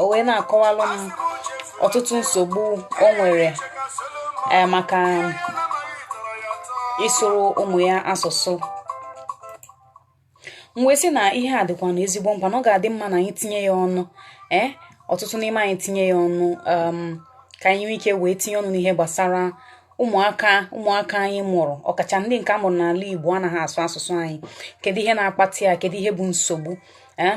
o wee na-akọwalụ m ọtụtụ nsogbu o nwere eh, maka ịsụrụ ụmụ ya asụsụ m wee sị na ihe a dịkwanụ ezigbo mkpa na ọ ga-adị mma na anyị tinye ya ọnụ ee eh, ọtụtụ n'ime anyị tinye ya ọnụ um, ka anyị nwee ike wee tinye ọnụ n'ihe gbasara ụmụaka ụmụaka anyị mụrụ ọkacha ndị nke a mụrụ n'ala Igbo anaghị asụ asụsụ anyị kedu ihe na-akpata ya kedu ihe bụ nsogbu ee eh,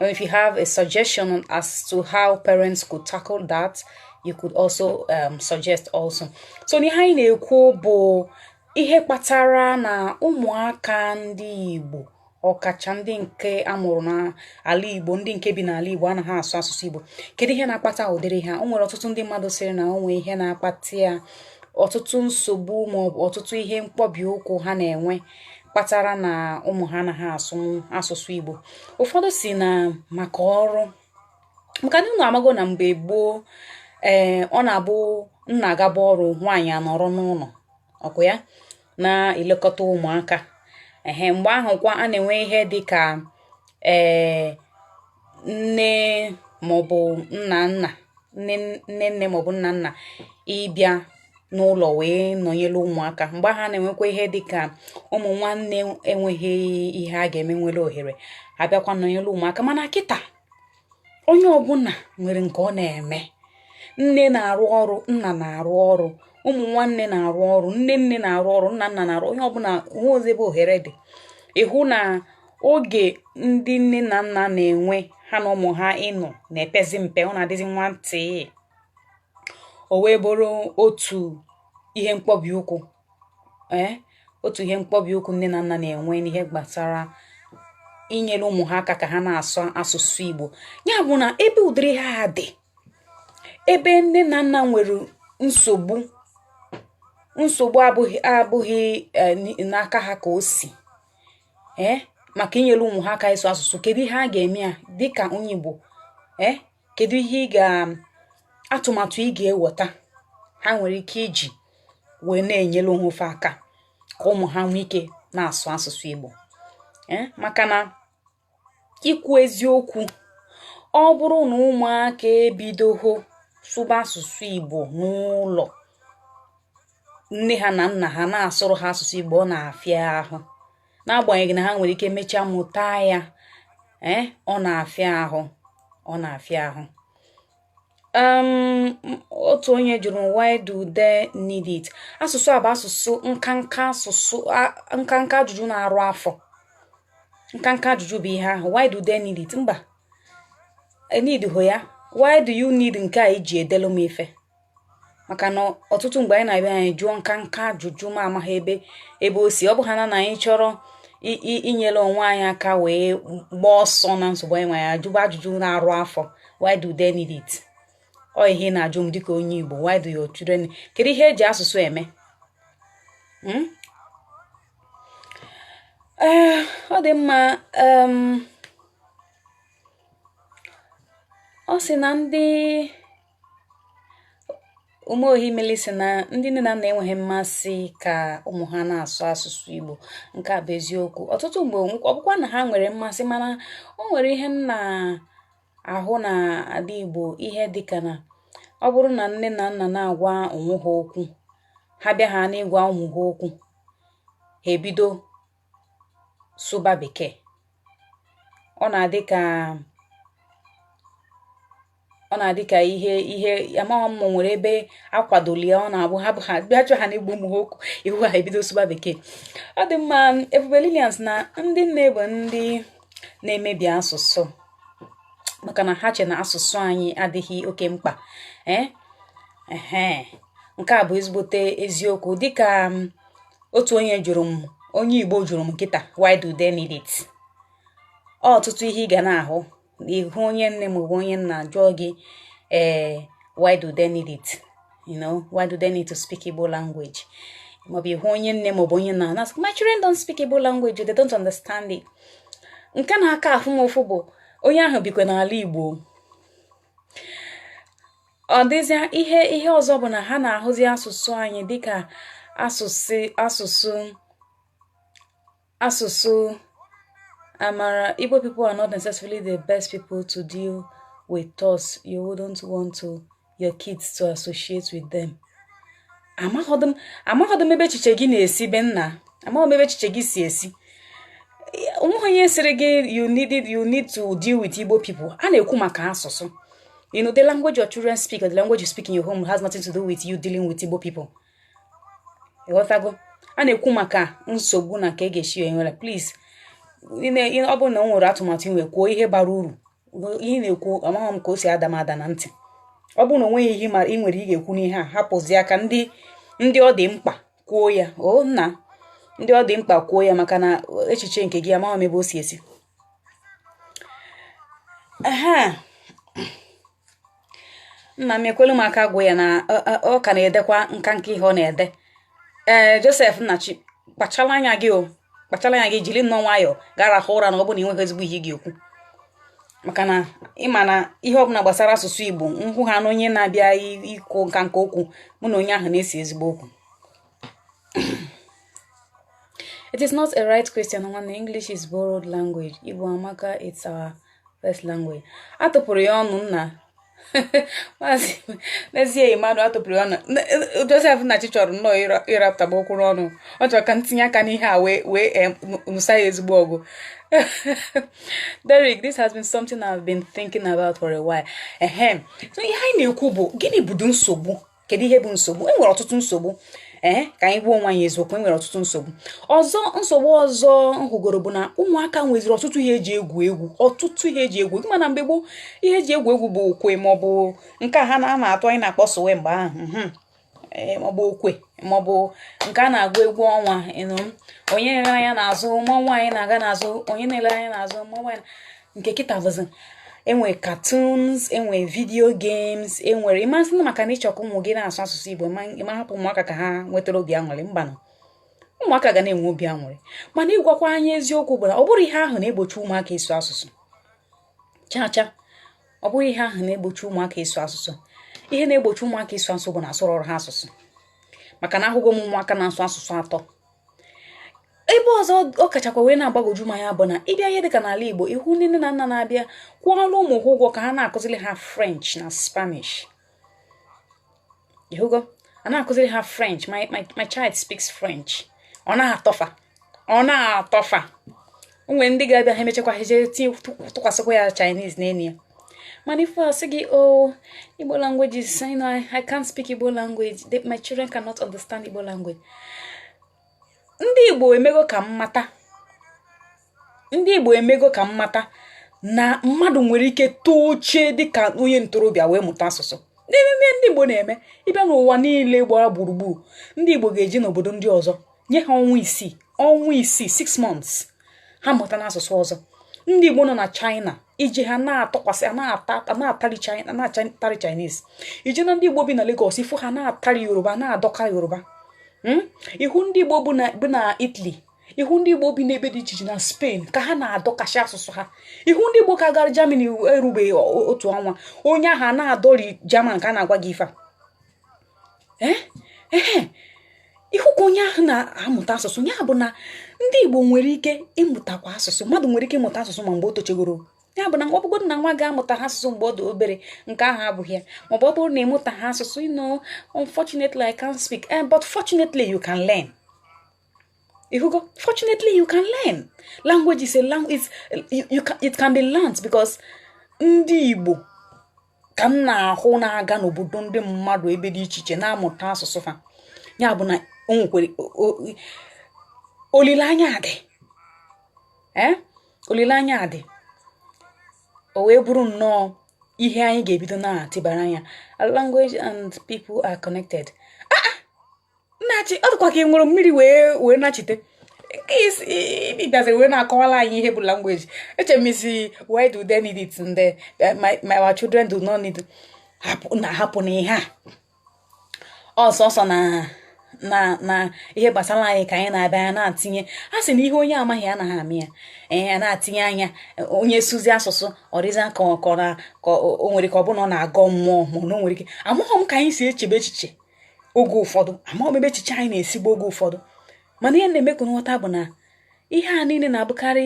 And if you have a suggestion as to how parents could tackle that, you could also um, suggest also. So n'ihe anyị na-ekwu bụ ihe kpatara na ụmụaka ndị Igbo ọkacha ndị nke amụrụ n'ala Igbo ndị nke bi n'ala Igbo anaghị asụ asụsụ Igbo kedu ihe na-akpata ụdịrị ihe a o nwere ọtụtụ ndị mmadụ sịrị na o nwee ihe na-akpata ya ọtụtụ nsogbu maọbụ ọtụtụ ihe mkpọbi ụkwụ ha na-enwe kpatara na ụmụ ha anaghị asụ asụsụ Igbo ụfọdụ sị na maka ọrụ maka na unu amago na mgbe gboo ee eh, ọ na-abụ nna agaba ọrụ nwaanyị anọrọ n'ụlọ ọ bụ ya na-elekọta ụmụaka ehe mgbe ahụ kwa a na-enwe ihe dị ka ee eh, nne maọbụ nna nna nne nne nne maọbụ nna nna ịbịa n'ụlọ wee nọnyere ụmụaka mgbe ahụ a na-enwekwa ihe dị ka ụmụ nwanne enweghị ihe a ga-eme nwere ohere abịakwa nọnyere ụmụaka mana kịta onye ọbụla nwere nke ọ na-eme nne na-arụ ọrụ nna na-arụ ọrụ ụmụ nwanne na-arụ ọrụ nne nne na-arụ ọrụ nna nna na-arụ onye ọbụla o nwehozi ebe ohere dị ị hụ na oge ndị nne na nna na-enwe ha na ụmụ ha ịnọ na-epezi mpe ọ na-adịzi nwa ntị o wee bụrụ otu ihe mkpọbi ụkwụ ee eh, otu ihe mkpọbi ụkwụ nne na nna na-enwe n'ihe gbasara inyere ụmụ ha aka ka ha na-asụ asụsụ Igbo ya bụ na ebe ụdịrị ihe a dị ebe nne na nna nwere nsogbu nsogbu abụghị abụghị eh, n'aka ha ka o si ee eh, maka inyere ụmụ ha aka ịsụ asụsụ kedu ihe a ga-eme ya dịka onye Igbo ee eh, kedu ihe ị ga atụmatụ ị ga-eweta ha nwere ike iji wee na-enyere onwe fa aka ka ụmụ ha nwee ike na-asụ asụsụ Igbo eh, maka na ikwu eziokwu ọ bụrụ na ụmụaka ebidoho sụba asụsụ igbo n'ụlọ nne ha na nna ha na-asụrụ ha asụsụ igbo ọ na-afịa ahụ n'agbanyeghị na ha nwere ike mechaa mụta ya ee eh, ọ na-afịa ahụ ọ na-afịa ahụ um otu onye jụrụ m why do they need it asụsụ a bụ asụsụ nkanka asụsụ nkanka ajụjụ na-arụ afọ nkanka ajụjụ bụ ihe ahụ why do they need it mba e need họ ya why do you need nke a i ji edelu m ife maka na ọtụtụ mgbe anyị na-abịa anyị jụọ nkanka ajụjụ ma amaghị ebe ebe o si ọ bụ ha na na anyị chọrọ inyere onwe anyị aka wee gbaa ọsọ na nsogbu anyị nwere ajụba ajụjụ na-arụ afọ why do they need it ọ ihe ị na-ajụ m dịka onye Igbo why do your children kedu ihe e ji asụsụ eme hmm? eh, ọ dị mma ọ sị na ndị Umeohimili sị na ndị nne na nna enweghị mmasị ka ụmụ ha na-asụ asụsụ Igbo nke a bụ eziokwu ọtụtụ mgbe ọ bụkwa na ha nwere mmasị mana o nwere ihe m na-ahụ na ala Igbo ihe dịka na ọ bụrụ na nne na nna na-agwa onwe ha okwu ha bịa ha n'ịgwa ụmụ ha okwu ha ebido sụba bekee ọ na-adị ka ọ na-adị ka ihe ihe amaghị m ma o nwere ebe a kwadoli ya ọ na-abụ ha ha bịa chọ ha n'ịgwa ụmụ ha okwu ị hụ ha ebido sụba bekee ọ dị mma Ebube Lilian sị na ndị nne bụ ndị na-emebi asụsụ maka na ha che na asụsụ anyị adịghị oke mkpa ee eh? nke a bụ ezigbote eziokwu dịka otu onye jụrụ m onye igbo jụrụ m kịta why do they need it ọtụtụ ihe ị ga na-ahụ ị hụ onye nne maọbụ onye nna jụọ gị ee eh, why do they need it you know why do they need to speak igbo language maọbụ ị hụ onye nne maọbụ onye nna na my children don't speak igbo language they don't understand it nke na-aka afụ m ụfụ bụ onye ahụ bikwa n'ala igbo ọ dịzịa ihe ihe ọzọ bụ na ha na-ahụzi asụsụ anyị dịka asụsụ asụsụ asụsụ amara Igbo people are not necessarily the best people to deal with thus you wouldn't want your kids to associate with them amaghọdụ m ebe echiche gị na-esi be nna amaghị m ebe echiche gị si esi onweghị onye sịrị gị you need you need to deal with Igbo people a na-ekwu maka asụsụ you know the language your children speak or the language you speak in your home has nothing to do with you dealing with Igbo people ị ghọtago a na-ekwu maka nsogbu na ka a ga-esi enwere please ọ bụrụ na o nwere atụmatụ ị nwe kwuo ihe bara uru ihe ị na-ekwu amaghị m ka o si ada m ada na ntị ọ bụrụ na o nweghị ihe ị nwere ị ga-ekwu n'ihe a hapụzia ka ndị ndị ọ dị mkpa kwuo ya o nna ndị ọ dị mkpa kwuo ya maka na echiche nke gị amaghị m ebe o si esi nna m ekwelu m aka gwa ya na ọ ka na-edekwa nkanka ihe ọ na-ede ee Joseph Nnachi kpachara anya gị o kpachara anya gị jiri nnọọ nwayọọ gaa rahụ ụra na ọ bụ na ị nweghị ezigbo ihe ị ga-ekwu maka na ị ma na ihe ọbụla gbasara asụsụ Igbo m hụ ha na onye na-abịa ikwu nkanka okwu mụ na onye ahụ na-ese ezigbo okwu it is not a right question nwanne english is borrowed language igbo amaka it's our first language atụpụrụ ya ọnụ nna maazị n'ezie mmadụ atụpụrụ ya ọnụ Joseph Nnachi chọrọ nnọọ ịrapụtaba okwu n'ọnụ ọ chọrọ ka m tinye aka n'ihe a wee wee nụsa ya ezigbo ọgụ Derek, this has been something I've been thinking about for a while. Ehem. So ihe anyị na-ekwu bụ gịnị bụdụ nsogbu kedu ihe bụ nsogbu e nwere ọtụtụ nsogbu ee ka anyị gwa onwe anyị eziokwu e nwere ọtụtụ nsogbu ọzọ nsogbu ọzọ m hụgoro bụ na ụmụaka nweziri ọtụtụ ihe eji egwu egwu ọtụtụ ihe eji egwu egwu mana mgbe gboo ihe eji egwu egwu bụ okwe maọbụ nke ha na-atụ anyị na-akpọ suwe mgbe ahụ mhm. maọbụ okwe maọbụ nke a na-agụ egwu ọnwa onye na-ele anya n'azụ mmanwụ anyị na-aga n'azụ onye na-ele anya n'azụ mmanwụ anyị nke kịta bụzi enwe cartoons enwe video games enwere ị ma asị na maka na ị chọ ka ụmụ gị na-asụ asụsụ igbo ị ma hapụ ụmụaka ka ha nwetara obi aṅụrị mbanụ ụmụaka ga na-enwe obi aṅụrị mana ịgwakwa anyị eziokwu bụ na ọ bụrọ ihe ahụ na-egbochi ụmụaka ịsụ asụsụ chacha ọ bụghị ihe ahụ na-egbochi ụmụaka ịsụ asụsụ ihe na-egbochi ụmụaka ịsụ asụsụ bụ na asụrọrọ ha asụsụ maka na ahụgo m ụmụaka na-asụ asụsụ atọ ebe ọzọ ọ kachakwa wee na-agbagwoju m anya bụ na ịbịa ihe dịka n'ala Igbo ịhụ ndị nne na nna na-abịa kwụọlụ ụmụ ha ụgwọ ka ha na-akụziri ha French na Spanish ịhụgo a na-akụziri ha French my, my, my child speaks French ọ na-atọ fa ọ na-atọ fa o nwere ndị ga-abịa ha emechakwa ha jee tinye tụkwasịkwa ya Chinese n'elu ya mana ife asị gị o oh, Igbo language is you know, I can't speak Igbo language my children cannot understand Igbo language ndị Igbo emego ka m mata ndị Igbo emego ka m mata na mmadụ nwere ike tochaa dịka onye ntorobịa wee mụta asụsụ n'ime ndị Igbo na-eme ịbịa n'ụwa niile gbara gburugburu ndị Igbo ga-eje n'obodo ndị ọzọ nye ha ọnwa isii ọnwa isii six months ha amụtana asụsụ ọzọ ndị igbo nọ na china ije ha na-atọkwasị na-atari china na-atari chinese ije na ndị igbo bi na lagos ịfụ ha na-atari yoruba na-adọka yoruba hmm? ịhụ ndị igbo bi na italy ịhụ ndị igbo bi n'ebe dị iche iche na spain ka ha na-adọkasị asụsụ ha ịhụ ndị igbo ka gara germany erubeghị otu ọnwa onye ahụ na-adọri german ka a na-agwa gị ife a ee ee ị hụ ka onye ahụ na-amụta asụsụ ya bụ na ndị Igbo nwere ike ịmụtakwa asụsụ mmadụ nwere ike ịmụta asụsụ ma mgbe o tochegoro ya bụ na ọ bụgodị na nwa gị amụtaghị asụsụ mgbe ọ dị obere nke ahụ abụghị ya maọbụ ọ bụrụ na ị mụtaghị asụsụ you know unfortunately I can't speak eh, but fortunately you can learn ịhụgo fortunately you can learn language is a language you can, it can be learned because ndị Igbo ka m na-ahụ na-aga n'obodo ndị mmadụ ebe dị iche iche na-amụta asụsụ fa ya bụ na o nwekwere olileanya dị eh? olileanya dị o wee bụrụ nnọọ ihe anyị ga-ebido na-atịbara anya language and people are connected nnachi ọ dịkwa ka ị ṅụrụ mmiri wee wee nachite nke i si bịaziri wee na-akọwala anyị ihe bụ language eche m sị why do they need it and eh, my, my our children do not need it." Hapụ- na hapụ na ihe a ọsọsọ na na na ihe gbasara anyị ka anyị na-abịa ya na-atinye a sị na ihe onye amaghị anaghị ama ya ee ya na-atinye anya onye sụzie asụsụ ọ dịzịa ka ọ ka ọ na ka o o nwere ka ọ bụ na ọ na-agọ mmụọ ma ọ na o nwere ike amaghị m ka anyị si echebe echiche oge ụfọdụ amarọ m ebe echiche anyị na-esi abịa oge ụfọdụ mana ihe na-eme ka m ghọta bụ na ihe a niile na-abụkarị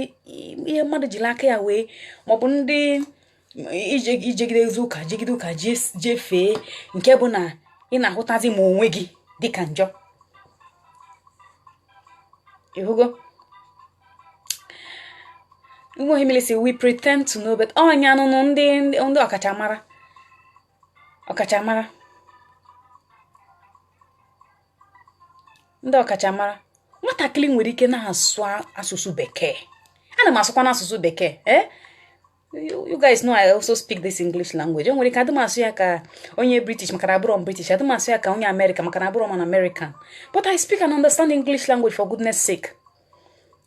ihe mmadụ jiri aka ya wee maọbụ ndị i jegidezie ụka jegide ụka jefee nke bụ na ị na-ahụtazi ma onwe gị dịka njọ ịhụgo nweghị milisi we pretend to know but ọnya nụnụ ndị ndị ọkachamara ọkachamara ndị ọkachamara nwatakịrị nwere ike na-asụ asụsụ bekee ana m asụkwa n'asụsụ bekee eh? you guys know I also speak this English language o nwere ike adị m asụ ya ka onye British maka na abụrọ m British adị m asụ ya ka onye America maka na abụrọ m an American but I speak and understand English language for goodness sake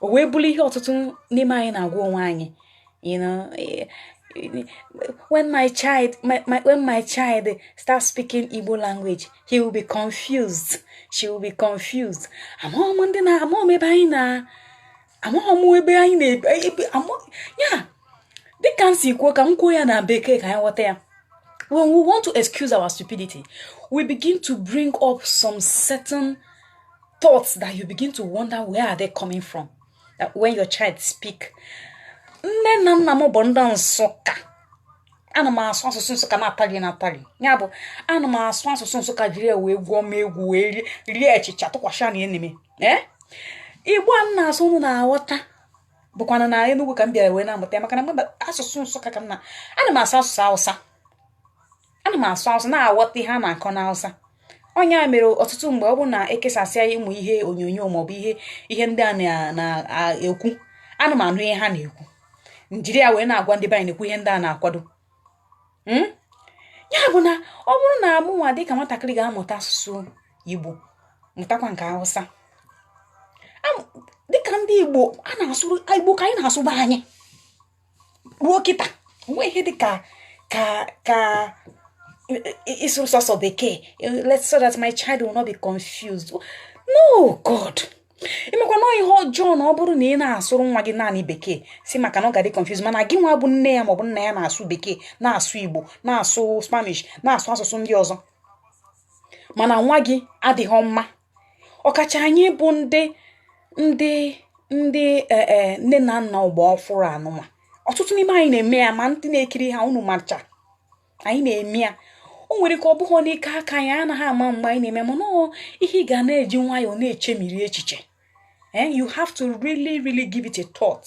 o wee bụrụ ihe ọtụtụ n'ime anyị na-agwa onwe anyị you know eh, eh, when my child my, my, when my child starts speaking Igbo language he will be confused she will be confused amaghị m ndị na amaghị m ebe anyị na amaghị m ebe anyị na-ebe ya dịka m si kwuo ka m kwuo ya na bekee ka anyị ghọta ya when we want to excuse our stupidity we begin to bring up some certain thoughts that you begin to wonder where are they coming from that when your child speak nne na nna m bụ ndị Nsụka ana m asụ asụsụ Nsụka na-atali na-atali ya bụ ana m asụ asụsụ Nsụka jiri ya wee gwuo egwu wee rie- rie achịcha tụkwasị na eneme ee Igbo a m na-asụ unu na-aghọta bụkwana na Enugu ka m bịara wee na-amụta ya maka na mgbe asụsụ Nsụka ka m na ana m asụ asụsụ Hausa ana m asụ Hausa na-aghọta ihe a na-akọ n'Hausa onye mere ọtụtụ mgbe ọ bụrụ na ekesasịa ụmụ ihe onyonyo maọbụ ihe ndị a na-ekwu ana m anụ ihe ha na-ekwu njiri ya wee na-agwa ndị be anyị na-ekwu ihe ndị a na-akwado hmm? ya bụ na ọ bụrụ na amụ nwa dịka nwatakịrị ga-amụta asụsụ Igbo mụtakwa nke Hausa dịka ndị Igbo a na-asụ Igbo ka anyị na-asụ be anyị ruo kịta nwe ihe dị ka ka ka ịsụrụ sọsọ bekee so that my child will not be confused no god ị makwa na ihe ọjọọ na ọ bụrụ na ị na-asụrụ nwa gị naanị bekee si maka na ọ ga-adị confused mana gị nwa bụ nne ya maọbụ nna ya na-asụ bekee na-asụ igbo na-asụ spanish na-asụ asụsụ ndị ọzọ mana nwa gị adịghị mma ọkacha anyị bụ ndị ndị ndị e, e, nne na nna ọgbọ ọfụrụ anụma ọtụtụ n'ime anyị na-eme ya ma ndị na-ekiri ha unu macha anyị na-eme ya o nwere ike ọ bụghị n'ike aka anyị anaghị ama mgbe anyị na-eme mana ihe ị ga na-eji nwayọọ na-echemiri echiche eh, you have to really really give it a thought.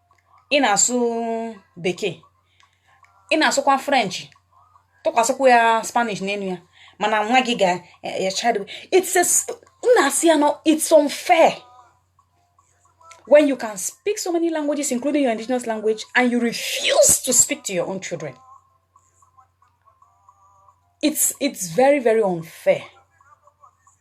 ị na-asụ bekee ị na-asụkwa french tụkwasịkwa ya spanish n'enu ya mana nwa gị ga-echado na-asị ya no it's unfair when you can speak so many languages including your indigenous language and you refuse to speak to your own children it's it's very very unfair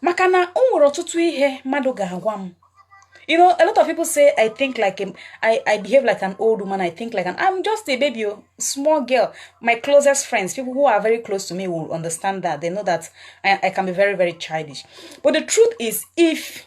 maka na o nwere ọtụtụ ihe mmadụ ga-agwa m you know a lot of people say i think like a, I, I behave like an old woman i think like an i'm just a baby o small girl my closest friends people who are very close to me will understand that they know that i, I can be very very childish but the truth is if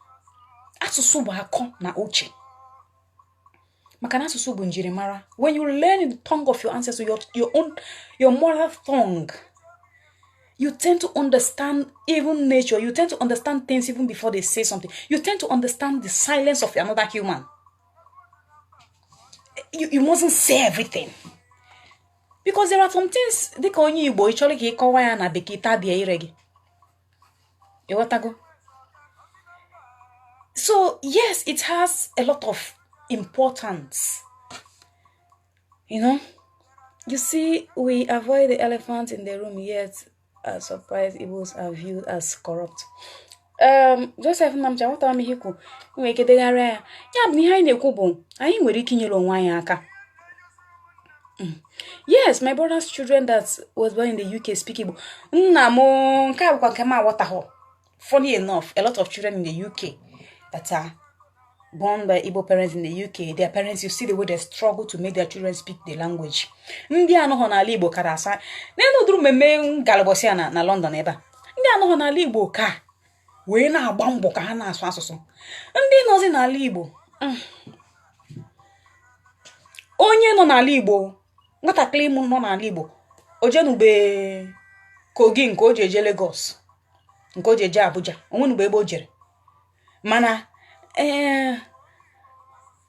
asụsụ bụ akọ na uche maka na asụsụ bụ njirimara when you learn the tongue of your ancestor your, your own your mother tongue you tend to understand even nature you tend to understand things even before they say something you tend to understand the silence of another human you, you mustn't say everything because there are some things dịka onye igbo ị chọrọ ka ị kọwa ya na bekee tabie ire gị ịghọtago so yes it has a lot of importance you know you see we avoid the elephant in the room yet are surprised Igbos are viewed as corrupt um, Joseph Nnamdi aghọtara m ihe ikwu nwere ike degharịa ya ya bụ ihe anyị na-ekwu bụ anyị nwere ike inyere onwe anyị aka yes my brother's children that was born in the uk speak igbo nna m nke a bụkwa nke m aghọtaghọ funny enough a lot of children in the uk that are born by igbo parents in the uk their parents you see the way they struggle to make their children speak the language ndị anọghọ n'ala igbo kara asụ n'elu ụdịrị mmemme m galụ ụbọsị a na london ebe a ndị anọghọ n'ala igbo ka wee na-agba mbọ ka ha na-asụ asụsụ ndị nọzi n'ala Igbo mm, onye nọ n'ala Igbo nwatakịrị ịmụ nọ n'ala Igbo o jenube Kogi nke o ji eje Lagos nke o ji eje Abuja o nwenube ebe o jere mana ee eh,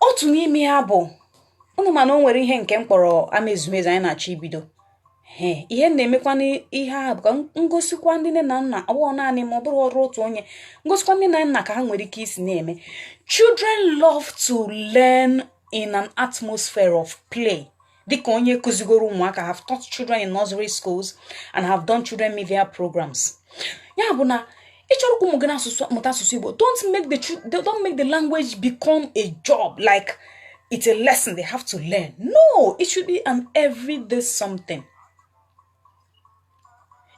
otu n'ime ya bụ unu mana o nwere ihe nke m kpọrọ ama ezumezu anyị na-achọ ibido ee ihe m na-emekwa n'ihe ahụ bụ ka m gosikwa ndị nne na nna ọ bụghị naanị ma ọ bụrụ ọrụ otu onye m gosikwa ndị nne na nna ka ha nwere ike isi na-eme children love to learn in an atmosphere of play dịka onye kụzigoro ụmụaka have taught children in nursery schools and have done children media programs ya bụ na ị chọrọ ka ụmụ gị na-asụ mụta asụsụ igbo don't make the chil- they don't make the language become a job like it's a lesson they have to learn no it should be an everyday something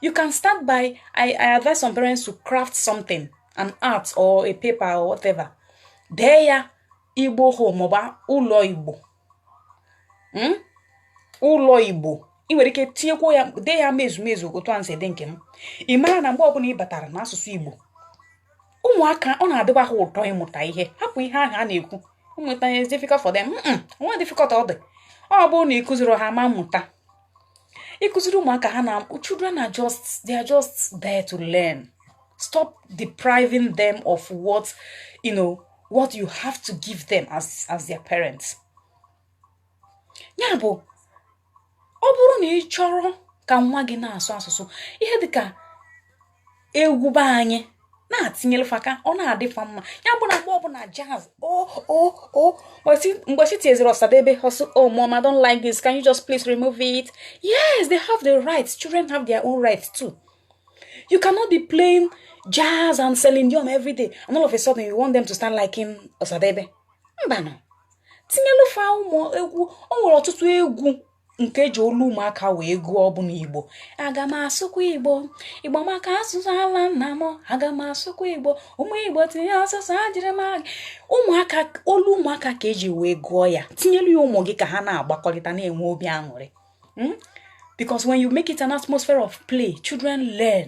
you can start by I, I advise some parents to craft something an art or a paper or whatever dee ya igbo home maọbụ ụlọ igbo hmm? ụlọ igbo ị nwere ike tinyekwa ya dee ya ma ezumezu otu a m si dee nke m ị mara na mgbe ọbụla ị batara n'asụsụ igbo ụmụaka ọ na-adịba ha ụtọ ịmụta ihe hapụ ihe ahụ a na-ekwu mmụta is difficult for them nwerọ difficult ọ dị ọ bụrụ na ị kụziri ha ma mmụta ị kụziri ụmụaka ha na children are just they are just there to learn stop depriving them of what you know what you have to give them as as their parents ya bụ ọ bụrụ na ị chọrọ ka nwa gị na-asụ asụsụ ihe dịka egwu be anyị na-etinyelu fa ka ọ na-adị fa mma ya bụ na mgbe ọbụla jazz o o o mgbe ị si tinyeziri ọsadebe ha asị oh mom i don't like this can you just please remove it yes they have the rights children have their own rights too you cannot be playing jazz and celine dion every day and all of a sudden you want them to start liking ọsadebe mbanụ tinyelu fa ụmụ egwu o nwere ọtụtụ egwu nke eji olu ụmụaka wee gụọ ọbụna igbo aga m asụkwa igbo igbo amaka asụsụ ala nna m aga m asụkwa igbo ụmụ igbo tinye asụsụ ejiri m ụmụaka olu ụmụaka ka eji wee gụọ ya tinyelu ya ụmụ gị ka ha na-agbakọrịta na-enwe obi aṅụrị hmm? because when you make it an atmosphere of play children learn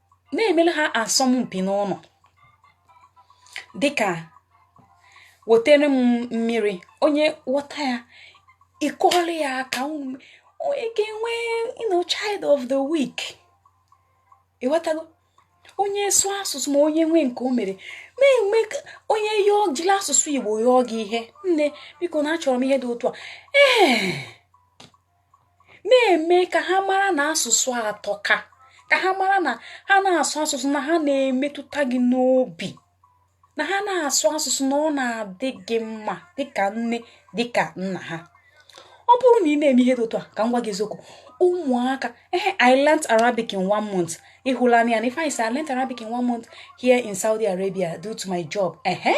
na-emele ha asọmpi n'ụlọ dịka wetere m mmiri onye ghọta ya ị kụọrọ ya aka unu onye ga-enwe you know, child of the week ịghọtago onye sụọ asụsụ ma onye nwee nke o mere na-enwe ka- onye yọọ jili asụsụ igbo yọọ gị ihe nne biko na achọrọ m ihe dị otu a ee na-eme ka ha mara na asụsụ atọka ka ha mara na ha na-asụ asụsụ na ha na-emetụta gị n'obi na ha na-asụ asụsụ na ọ na-adị gị mma dịka nne dịka nna ha ọ bụrụ na ị na-eme ihe dị otu a ka m gwa gị eziokwu ụmụaka ehe i learnt arabic in one month ịhụla anya na if i say i learnt arabic in one month here in saudi arabia due to my job ehe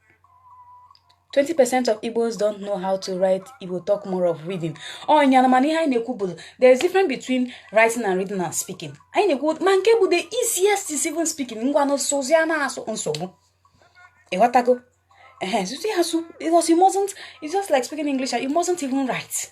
20% of Igbos don't know how to write Igbo talk more of reading. Oh, nyana mana ihe anyị na-ekwu bụ there is difference between writing and reading and speaking. Anyị na-ekwu ma nke bụ the easiest is even speaking ngwanụ sozi a na-asụ nsogbu. Ịghọtago? Ehe, sozi asụ because you mustn't, it's just like speaking English and you mustn't even write.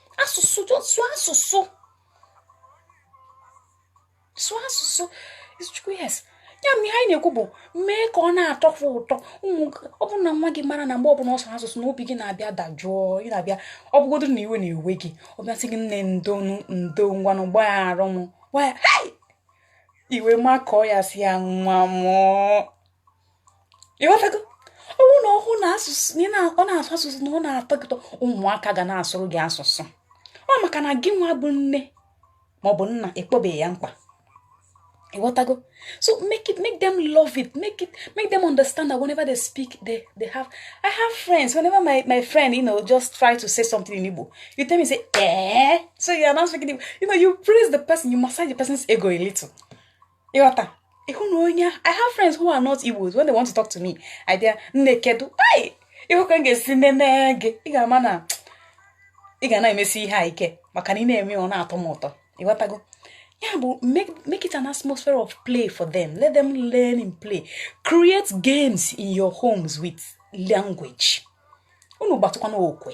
asụsụ sụọ asụsụ sụọ asụsụ chukwu yes ya bụ ihe anyị na-ekwu bụ mee ka ọ na-atọ ha ụtọ ọ bụrụ na nwa gị mara na mgbe ọbụla ọ sụrụ asụsụ na obi gị na-abịa dajụọ ị na-abịa ọ bụgodo na iwe na-ewe gị ọ bịa sị gị nne ndo ngwanụ gbagharụ m i wee makọọ ya sị ya nwa mụ ọ ịghọtago ọ bụ na ọ hụ na asụsụ na ọ na-asụ asụsụ na ọ na-atọ gị ụtọ ụmụaka ga na-asụrụ gị asụsụ ọ maka na gị nwa bụ nne maọbụ nna akpọbeghị ya mkpa ịghọtago so make it make them love it make it make them understand that whenever they speak they they have i have friends whenever my my friend you know just try to say something in igbo you tell me say eh so you are now speaking igbo you know you praise the person you massage the person's ego a little ịghọta ị hụ na onye i have friends who are not igbos when they want to talk to me i bịa nne kedu hey ị hụ ka m ga-esi nene gị ị ga-ama na ị ga na-emesi ihe a ike maka na ị na-eme ọ na-atọ m ụtọ ịghọtago ya bụ make it an atmosphere of play for them let them learn in play create games in your homes with language unu gbatụkwanụ okwe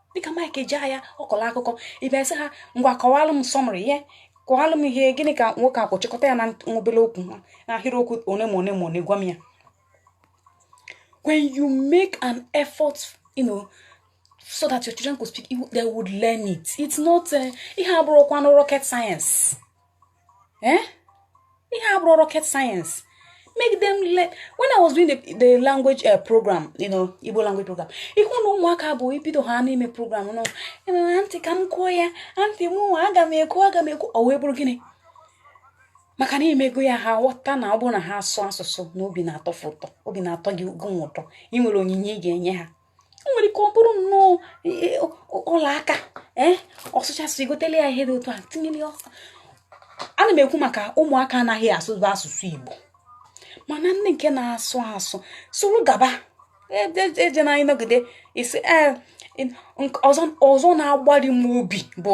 dịka Mike Ejeagha ọ kọlụ akụkọ ị bịa sị ha ngwa kọwalụ m summary ya kọwalụ m ihe gịnị ka nwoke a kwu chịkọta ya na obele okwu ha na ahịrịokwu one ma one gwa m ya when you make an effort you know, so that your children could speak they would learn it it's not eh, ihe abụrọkwanụ rocket science eh ihe a abụrọ rocket science make them learn when i was doing the, the language uh, program you know igbo language program ị hụ na ụmụaka bụ i bido ha n'ime program you know aunty ka m kwuo ya aunty mụnwa aga m ekwu aga m ekwu ọ wee bụrụ gịnị maka na i mego ya ha ghọta na ọ bụrụ na ha sụọ asụsụ na obi na-atọ ha ụtọ obi na-atọ gị gụnwa ụtọ i nwere onyinye ị ga-enye ha o nwere ike ọ bụrụ nnọọ e, e, ọla aka ee ọ sụcha asụ i gotele ya ihe dị otu a tinyere ọsọ ana m ekwu maka ụmụaka anaghị asụbu asụsụ igbo mana nne nke na-asụ asụ sụrụ gaba eje na anyị nọgide isi e, ọzọ na-agbari m obi bụ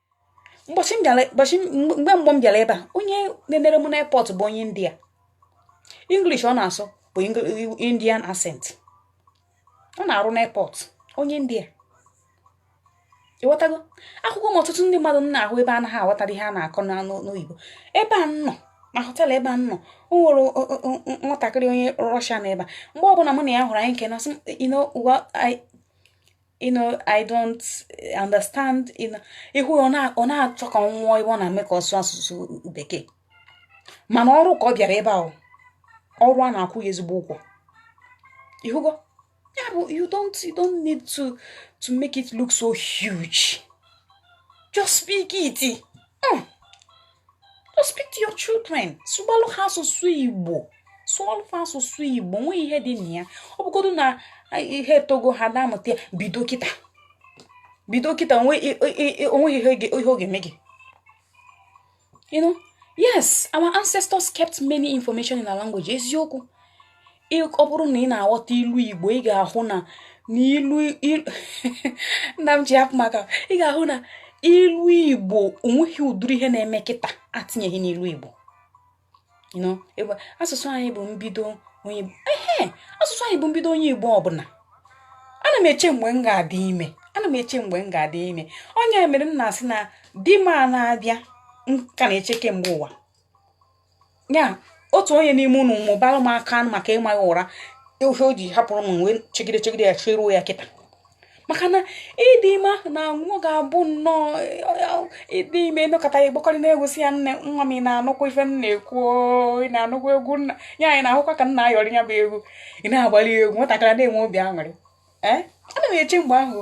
mgbe mgbe m bịara ebe a onye na-enere m n'airport bụ onye india english ọ na-asụ bụ indian accent ọ na-arụ n'airport onye india ị ghọtago akwụkwọ m ọtụtụ ndị mmadụ m na-ahụ ebe a anaghị aghọtara ihe a na-akọ n'oyibo ebe a nọ na họteelụ ebe a nọ o nwere nwatakịrị onye rọshia na ebe a mgbe ọbụla mụ na ya hụrụ anyị nke na you know you know i don't understand ị hụ ọ na-achọ ka ọ nwụọ ebe ọ na-eme ka ọ sụọ asụsụ bekee mana ọrụ ka ọ bịara ebe ahụ ọrụ a na-akwụ ya ezigbo ụgwọ ị hụgo ya bụ you don't you don't need to to make it look so huge just speak it hmm. just speak to your children sụbalụ ha asụsụ igbo sụọlụ ha asụsụ igbo nwee ihe dị na ya ọ bụgodu na ha etogo ha na-amụta bido kịta bido kịta onweghị ihe ọ ga-eme gị you know yes our ancestors kept many information in our language eziokwu ọ bụrụ na ị na-aghọta ilu igbo ị ga-ahụ na n'ilu nna m ji hapụ maka ị ga-ahụ na ilu igbo onweghị ụdịrị ihe na-eme kịta atinyeghị n'ilu igbo asụsụ anyị bụ mbido onye ehe asụsụ anyị bụ mbido onye igbo ọbụla ana m eche mgbe m ga-adị ime ana m eche mgbe m ga-adị ime onye mere m na-asị na di m a na-abịa nke a na-eche kemgbe ụwa ya otu onye n'ime unu mụbara m aka maka ịma ya ụra ihe o ji hapụrụ m wee chegide chegide ya cheruo ya kịta maka na ịdị ime ahụ na nwa ga-abụ nnọọ ịdị ime emekọta ya gbakọrị na-egosi ya nne nwa m ị na-anụkwa ife m na-ekwu ị na-anụkwa egwu nna ya anyị na-ahụkwa ka m na-ayọrị ya bụ egwu ị na-agbali egwu nwatakịrị na-enwe obi aṅụrị ee ana m eche mgbe ahụ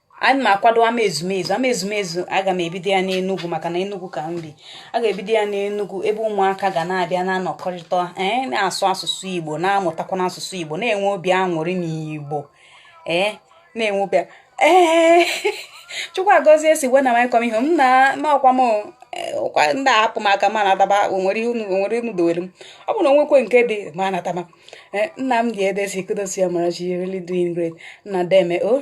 ana m akwado ama ezumezu ama ezumezu aga m ebido ya n'enugwu maka na enugwu ka m bi a ga-ebido ya n'enugwu ebe ụmụaka ga na-abịa na-anọkọrịta ee eh, na-asụ asụsụ igbo na-amụtakwa n'asụsụ igbo na-enwe obi aṅụrị n'igbo ee eh, na-enwe obi ee chukwu agọzie si when am i coming home na ma ọ kwa m ụkwa eh, ndị a hapụ m aka ma m nataba o nwere unu dowere m ọ bụrụ na o nwekwe nke dị ma m nataba eh, nna m dị ebe si kudos amarachi really doing great nna deeme o oh,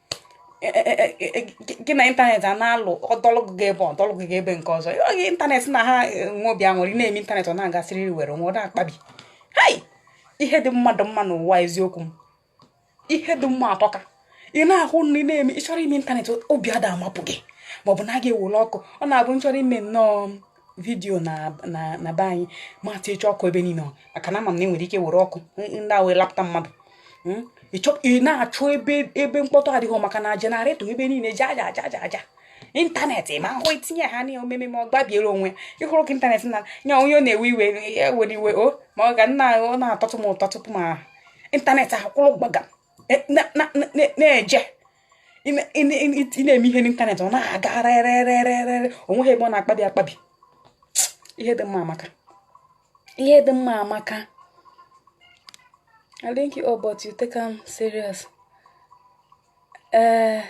e, e, e, gị na ịntanetị a na-alụ ọ dọlụ gị ebe a ọ dọlụ gị ebe nke ọzọ oge ịntanetị na ha nwe obi aṅụrị na-eme ịntanetị ọ na-aga sịrị werere ọ da akpabi hei ihe dị mmadụ mma n'ụwa eziokwu m ihe dị mma atọka ị na-ahụ na ị na-eme ị chọrọ ime ịntanetị obi ada amapụ gị maọbụ na a ga-ewere ọkụ ọ na-abụ ị chọrọ ime nnọọ vidiyo na be anyị mata ịchọ ọkụ ebe niile maka na ama m na enwere ike were ọkụ ndị a wee lapụta mmadụ hmm? ị na-achọ ebe ebe mkpọtụ adịghị maka na jenaretọ ebe niile ji aja aja aja aja ịntanetị ma ahụ itinye ha na omeme ma ọ gbabiere onwe ịhụrụ ka ịntanetị na nya onye ọ na-ewe iwe ewere iwe o ma ọ ga nna ọ na-atọtụ m ụtọ tupu ma ịntanetị akwụrụ gbagam na-eje ị na-eme ihe n'ịntanetị ọ na-aga rerererere o nweghị ebe ọ na-akpabi akpabi ihe dị mma amaka ihe dị mma amaka I link you up, but you take am serious. Uh,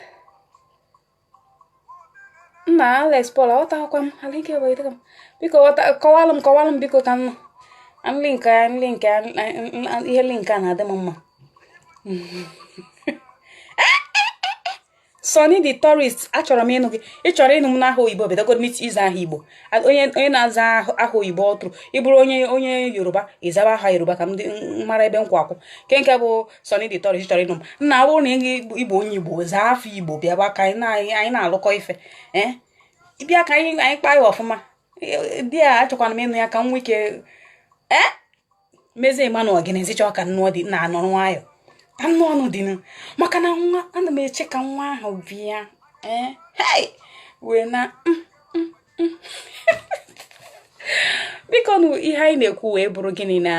nna Alex Paul aghọtaghịkwa m I link you but you take am biko ghọta- kọwalụ m kọwalụ m biko ka m nụ An link a an link a an- an- an- ihe link a na-adị m mma Sonny the tourist achọrọ m ịnụ gị ị chọrọ ịnụ m n'aha oyibo bidogodu ịza aha igbo A- onye onye na-aza aha- aha oyibo ọ bụrụ ịbụrụ onye onye yoruba ịzaba aha yoruba ka m dị- m mara ebe m kwụ akwụ nke nke bụ Sonny the tourist chọrọ ịnụ m nna ọ bụrụ na ị ịbụ onye igbo zaa afa igbo bịaba ka anyị na-alụkọ ife ee bịa ka anyị anyị kpaa ya ọfụma di ya achọkwana m ịnụ ya ka m nwee ike ee mezie Emmanuel gịnịzi chọọ ka m nụọ dị na anọrọ nwayọ anụ ọnụ dị maka na nwa ana m eche ka nwa ahụ bịa ee wee na mm, mm, mm. biko nụ ihe anyị na-ekwu wee bụrụ gịnị na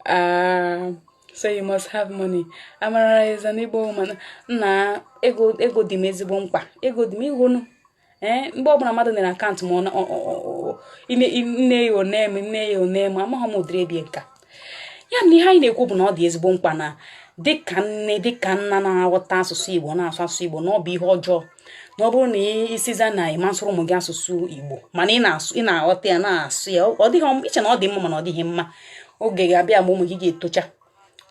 Ah, so you must have money. Amara is an Igbo woman. Nna ego ego dị m ezigbo mkpa. Ego dị m ịhụgonụ. Ee, eh, mgbe ọbụla mmadụ na akaụntụ m nne ya o nne m nne ya o nne m amaghị m ụdịrị ebie nka. Ya na ihe anyị na-ekwu bụ na ọ dị ezigbo mkpa na dịka nne dịka nna na-aghọta asụsụ Igbo na-asụ asụsụ Igbo na ọ bụ ihe ọjọọ na ọ bụrụ na ị sịzia na ị ma-asụrụ ụmụ gị asụsụ igbo mana ị na-aghọta ya na-asụ ya ọ dịghị i che na ọ dị mma mana ọ dịghị mma oge ga-abịa mgbe ụmụ gị ga-etocha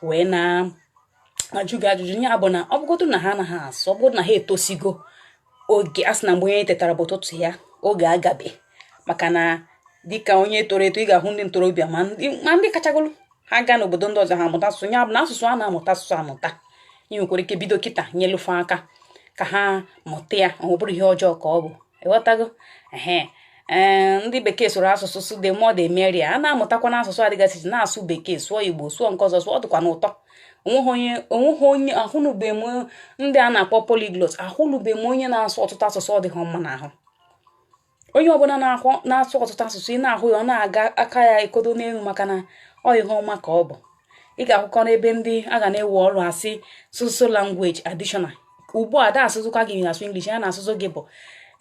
wee na-ajụ gị ajụjụ ya bụ na ọ bụgodu na ha anaghị asụ ọ bụgodu na ha etosigo oge a sị na mgbe onye tetara bụ ụtụtụ ya oge agabe maka na dịka onye toro eto ị ga-ahụ ndị ntorobịa ma ndị kachagolu ha gaa n'obodo ndị ọzọ ha amụta asụsụ ya bụ na asụsụ a na-amụta asụsụ amụta ị nwekwara ike bido kịta nyelu fa aka ka ha mụta ya ọ bụrụ ihe ọjọọ ka ọ bụ ịghọtago ee ndị bekee sụrụ asụsụ sị the more the merrier a na-amụtakwanụ asụsụ adịgasị na-asụ bekee sụọ igbo sụọ nke ọzọ sụọ ọ dịkwanụ ụtọ onweghị onye ahụnụbe m ndị a na-akpọ polyglot ahụnụbe m onye na-asụ ọtụtụ asụsụ ọ dịghị mma n'ahụ onye ọbụla na-ahụ na-asụ ọtụtụ asụsụ ị na-ahụ ya ọ na-aga aka ya ekodo n'elu maka na ọ ihe ọma ka ọ bụ ị ga-ahụkọ n'ebe ndị a ga na-ewe ọrụ asị so so language additional ugbu a da ajụzikwa gị na-asụ English ihe a na-ajụzi gị bụ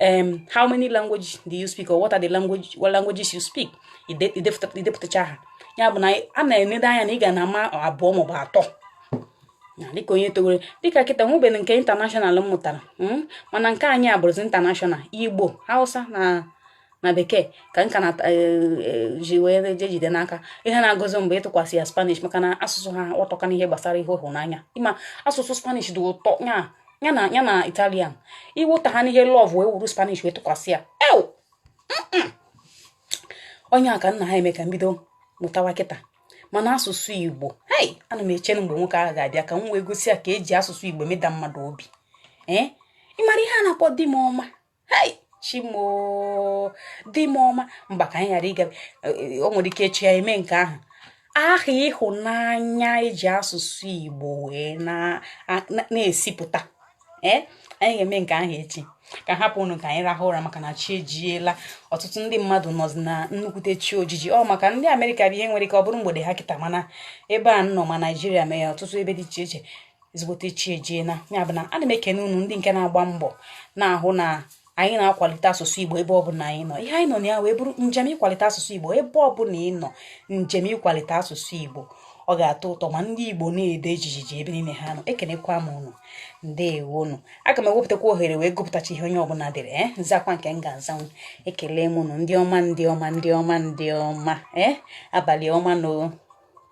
em how many language do you speak or what are the language what languages you speak idepụtacha ha ya bụ na a na-enede anya na ị ga na-ama abụọ maọbụ atọ na dịka onye towere dịka kịta nwebere nke international m mụtara hmm? mana nke anyị abụrụzi international igbo hausa na na bekee ka m ka na e, e, ji wee je jide n'aka ihe na-agụzi m bụ ịtụkwasị ya spanish maka na asụsụ ha atọka n'ihe gbasara ihe ịhụnanya ịma asụsụ spanish dị ụtọ ya ya na ya na italian iwụta ha n'ihe love wee wuru spanish wee tụkwasị ya ew onye a ka nna ha eme ka m bido mụtawa kịta mana asụsụ igbo hei ana m eche na mgbe nwoke ahụ ga-abịa ka m wee gosi ya ka eji asụsụ igbo meda mmadụ obi ee eh? ịmara ihe a na-akpọ di m ọma hei chimo di m ọma mba ka anyị ghara ịga eh, o nwere ike echi ya eme nke ahụ aha ịhụnanya eji asụsụ igbo wee na-ezipụta ee eh? anyị ga-eme nke ahụ echi ka hapụ unu ka anyị rahụ ụra maka na chi ejiela ọtụtụ ndị mmadụ nọzi na nnukwute chi ojiji ọ maka ndị amerịka bụ ihe nwere ike ọ bụrụ mgbede ha kịta mana ebe a nọ ma naijiria mee ya ọtụtụ ebe dị iche iche ezigbote chi ejiela ya bụ na ana m ekene unu ndị nke na-agba mbọ na-ahụ na anyị na-akwalite asụsụ igbo ebe ọbụla anyị nọ ihe anyị nọ na ya wee bụrụ njem ịkwalite asụsụ igbo ebe ọbụla ị nọ njem ịkwalite asụsụ igbo ọ ga-atọ ụtọ ma ndị igbo na-ede jijiji ebe niile ha nọ ekenekwa m unu ndewonu aga m ewepụtakwa ohere wee gụpụtacha ihe onye ọbụla dere e m zakwa nke m ga-azanwu ekele m unu ndị ọma ndị ọma ndị ọma ndị ọma ee abalị ọma nụ